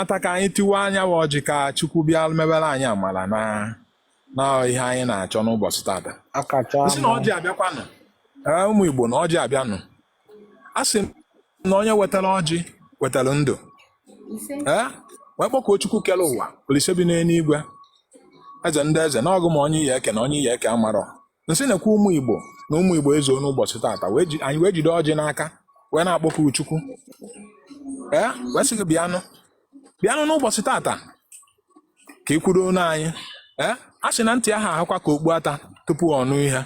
ata ka anyị tiwaa nya bụ ọjị ka Chukwu bịa mebere anyị amala na na ihe anyị na-achọ n'ụbọchị tata akacha m sị na ọjị abịakwanụ ee ụmụ Igbo na ọjị abịanụ a sị m na onye wetara ọjị wetara ndụ ee wee kpọkuo Chukwu kere ụwa Olise bi n'eluigwe eze ndị eze na ọ gị ma onye ị ya eke na onye ị ya eke amarọ m sị na-ekwu ụmụ igbo na ụmụ igbo ezuo n'ụbọchị tata wee ji- anyị wee jide ọjị n'aka wee na-akpọku chukwu ee wee sị gị bịanụ bịanụ n'ụbọchị tata ka ị kwuoronụ anyị ee a sị na ntị aha ahakwa ka okpu ata tupu ọ nụ ihe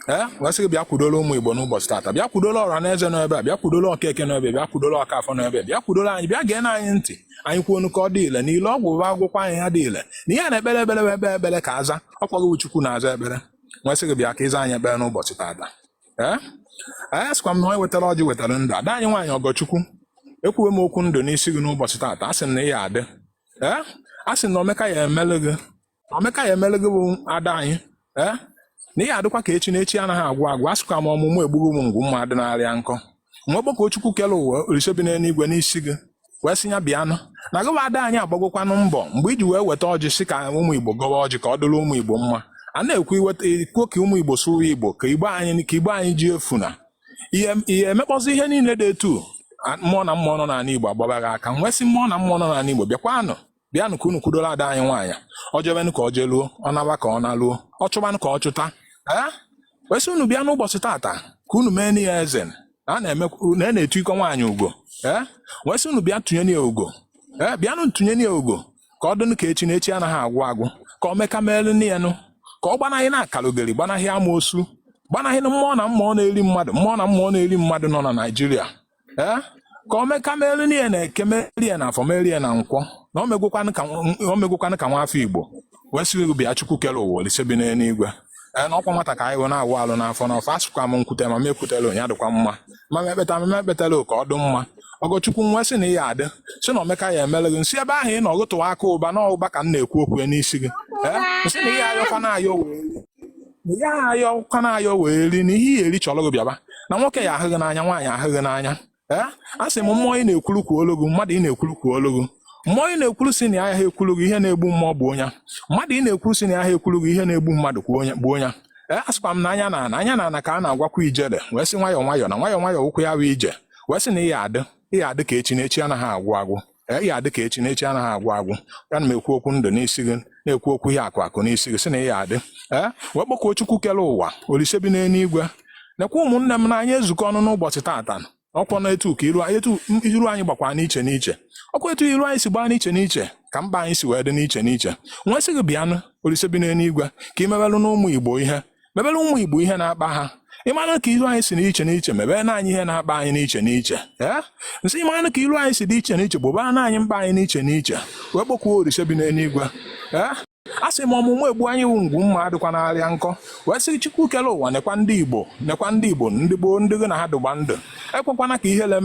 ee wee sị gị bịa kwudola ụmụ igbo n'ụbọchị tata bịa kwudola ọra na eze n'ebe a bịa kwudola okeke n'ebe a, bịa kwudola okafọ n'ebe a, bịa kwudola anyị bịa geenụ anyị ntị anyị kwuonụ ka ọ dị ile na ile ọgwụ bụ a gwọkwaa ya ya adị ile na ihe a na-ekpere ekpere bụ e kpee ekpere ka a zaa ọ kwa gịwa Chukwu na-aza ekpere m wee sị gị bịa ka ị zaa anyị ekpere n'ụbọchị taata ee a sịkwa m na onye wetara ọjị wetara ndụ ada anyị nwaanyị ọgọchukwu ekwuwe m okwu ndụ n'isi gị n'ụbọchị taata a sị m na ị ya adị ee a sị m na omeka ya emele gị Omeka ya emere gị bụ ada anyị ee eh? na ị ya adịkwa ka echi na echi anaghị agwụ agwụ asịkwa m ọmụmụ egbughị m ngwụ mma dị narịa nkọ m wee kpọkuo Chukwu kere ụwa olise bi n'eluigwe n'isi gị wee sị ya bịanụ na gịwa ada anyị agbagokwanụ mbọ mgbe i ji wee weta ọjị sị ka ụmụ Igbo gọwa ọjị ka ọ dịrị ụmụ Igbo mma a na-ekwu iweta ikwo ka ụmụ Igbo sụrụ Igbo ka Igbo anyị ka Igbo anyị ji efu na ihe emekpọzi ihe niile dị etu mmụọ na mmụọ nọ n'ala Igbo agbaba gị aka m wee sị mmụọ na mmụọ nọ n'ala Igbo bịakwanụ bịanụ ka unu kwudola ada anyị nwaanyị o jebenụ ka o jeluo ọ naba ka ọ naluo ọ chụbanụ ka ọ chụta ee wee sị unu bịa n'ụbọchị tata ka unu meenụ ihe eze a na-eme na na-etu iko nwaanyị ugo ee wee sị unu bịa tunye ya ugo ee bịanụ tunye ya ugo ka ọ dịnụ ka echi na echi anaghị agwụ agwụ ka omeka meelunu ya nụ ka ọ gbanahị na akalogeri gbanahị amoosu gbanahị na mmụọ na mmụọ na-eri mmadụ mmụọ na mmụọ na-eri mmadụ nọ na naijiria ee ka omeka meere ya na eke meere ya na afọ meere ya na nkwọ na o megwokwanụ ka nw- o megwokwanụ ka nwa afọ igbo wee sị gị bịa chukwu kere ụwa olise bi n'eluigwe ee na ọ kwa nwata ka anyị bụ na-awụ alụ n'afọ n'afọ asịkwa m m kwute ma m ekwutelọ nya dịkwa mma ma m ekpeta ma m ekpetelọ ka ọ dị mma ọgọchukwu m wee sị na ị ya adị sị na omeka ya emere gị m sị ebe ahụ ị nọ gị tụwa aka ụba na ụba ka m na-ekwu okwu ya n'isi gị ee m sị na ị ya ayọkwana ayọ wee ya ayọkwana ayọ wee rie na ihe ị ya eri chọrọ gị bịaba na nwoke ya ahụ gị n'anya nwaanyị ahụ gị n'anya ee a sị m mmụọ ị na-ekwuru kwuolu gị mmadụ ị na-ekwuru kwuolu gị mmụọ ị na-ekwuru sị na ya aha ekwuru gị ihe na-egbu mmụọ gbuo nya mmadụ ị na-ekwuru sị na ya aha ekwuru gị ihe na-egbu mmadụ gbuo onye bụ onye ee asịkwa m na anya n'ana anya n'ana ka a na-agwakwa ijele wee sị nwayọọ nwayọọ na nwayọọ nwayọọ bụkwa ije wee sị na ị ya adị ị ya adị ka echi na echi anaghị agwụ agwụ Ee, ya dị ka echi na echi anaghị agwụ agwụ ya ana m ekwu okwu ndụ n'isi gị na-ekwu okwu ihe akụ akụ n'isi gị sị na ya dị ee wee kpọkuo chukwu kere ụwa olise bi n'eluigwe nekwa ụmụnne m na anyị ezukọ ọnụ n'ụbọchị tata ọkwa na etu ka iru anyị etu iru anyị gbakwara n'iche n'iche ọkwa etu iru anyị si gbaa n'iche n'iche ka mba anyị si wee dị n'iche n'iche m wee sị gị bịanụ olise bi n'eluigwe ka i mewelụnụ ụmụ igbo ihe mebere ụmụ igbo ihe na-akpa ha ị mara ka iru anyị si n'iche n'iche meberenụ anyị ihe na-akpa anyị n'iche n'iche ee m sị ị mara ka iru anyị si dị iche n'iche gbobaranụ anyị mkpa anyị n'iche n'iche wee kpọkuo orise bi n'eluigwe ee a sị m ọmụ mma egbu anyị wụ ngwu mma adịkwanarị ya nkọ wee sị chukwu kere ụwa nekwa ndị igbo nekwa ndị igbo ndị gboo ndị gị na ha dịgba ndụ ekwekwana ka ihere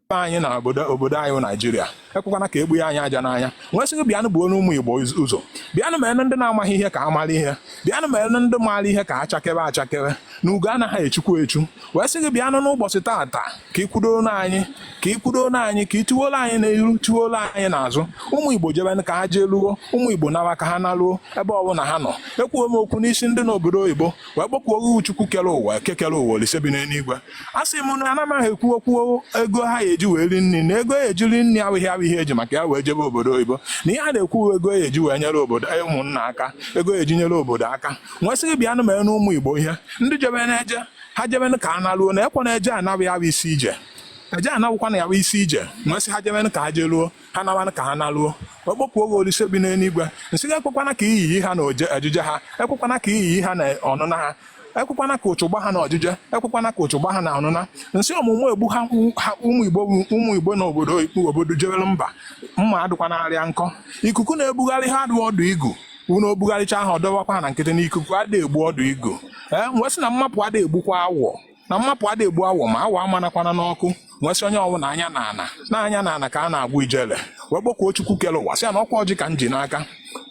mee anyị na obodo obodo anyị bụ naijiria ekwekwana ka egbu ya anyị aja n'anya m wee sị gị bịanụ buonụ ụmụ igbo ụzọ bịanụ meenụ ndị na-amaghị ihe ka ha mara ihe bịanụ meenụ ndị maara ihe ka ha chakebe achakebe na ugo anaghị echukwa echu wee sị gị bịanụ n'ụbọchị taata ka ị kwudoronụ anyị ka ị kwudoronụ anyị ka ị tụworo anyị n'ihu tụworo anyị n'azụ ụmụ igbo jebe ka ha jee luo ụmụ igbo nawa ka ha naruo ebe ọbụla ha nọ ekwuo m okwu n'isi ndị n'obodo oyibo wee kpọkuo gị chukwu kere ụwa eke kere ụwa olise bi n'eluigwe a sị m na anamaghị ekwu okwu ego ha eji wee rie nri na ego eji eri nri awụghị awụghị eji maka ya wee jebe obodo oyibo na ihe a na-ekwu ego eji wee nyere obodo e, ụmụnna aka ego eji nyere obodo aka m wee sị gị bịanụ merenụ ụmụ igbo ihe ndị jebenụ ije ha jebe ka ha naruo na ọkwa na eje anaghị awụ isi ije eje ana wụkwa na ya bụ isi ije m wee sị ha jebe ka ha jeruo ha nawanụ ka ha naruo kpọkuo gị olise bi n'eluigwe m sị gị ekwekwana ka iyi ha na ojije ha ekwekwana ka iyi ha na ọnụna ha ekwekwana ka ụchụ gbaa ha na ojije ekwekwana ka ụchụ gbaa ha na ọnụna m sị ọmụ mma egbu ha ha ụmụ igbo bụ- ụmụ igbo na obodo obodo jewere mba mma adịkwanarị ya nkọ ikuku na-ebugharị ha adụ ọdụ igu unu o bugharịcha ha ọ dọwakwa ha na nkịtị na ikuku adịghị egbu ọdụ igu ee wee sị na mmapụ adịghị egbukwa awọ na mmapụ ada egbu awọ ma awọ amanakwana n'ọkụ m wee sị onye ọwụna anya n'ana na anya n'ana ka a na-agwa ijele wee kpọkuo Chukwu kere ụwa sị ya na ọkwa ọjị ka m ji n'aka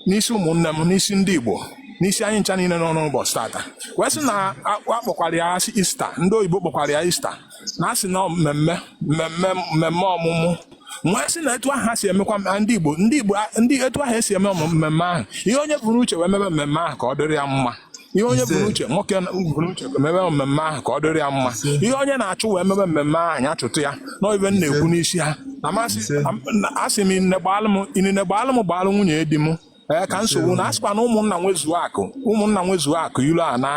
n'isi ụmụnne m n'isi ndị Igbo n'isi anyị ncha niile nọ n'ụbọchị tata wee sị na a kpọkwara ya ista ndị oyibo kpọkwara ya ista na-asị na mmemme mmemme mmemme ọmụmụ m wee sị na etu ahụ ha si emekwa ndị Igbo ndị Igbo ndị etu ahụ esi eme mmemme ahụ ihe onye bu n'uche wee mebe mmemme ahụ ka ọ dịrị ya mma ihe onye bu n'uche nwoke bu n'uche mebe mmemme ahụ ka ọ dịrị ya mma ihe onye na-achụ wee mebe mmemme ahụ ya chụta ya na ibe m na-ekwu n'isi ha asị m inine gbaalụ m gbaalụ nwunye di m ee ka nsogbu na asịkwa na ụmụnna nwezuo akụ ụmụnna nwezuo akụ ilo ana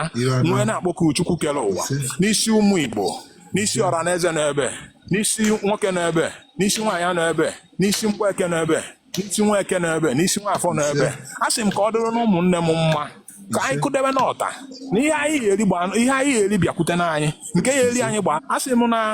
m wee na-akpọku Chukwu kere ụwa n'isi ụmụ Igbo n'isi ọra na eze n'ebe n'isi nwoke n'ebe n'isi nwaanyị n'ebe n'isi mgbeke n'ebe n'isi nwa eke n'ebe n'isi nwa afọ n'ebe a sị m ka ọ dịrịnụ ụmụnne m mma ka anyị kụdebe n'ọta na ihe anyị ya-eri bịakwutenụ anyị nke ya-eri anyị gbaa a sị m na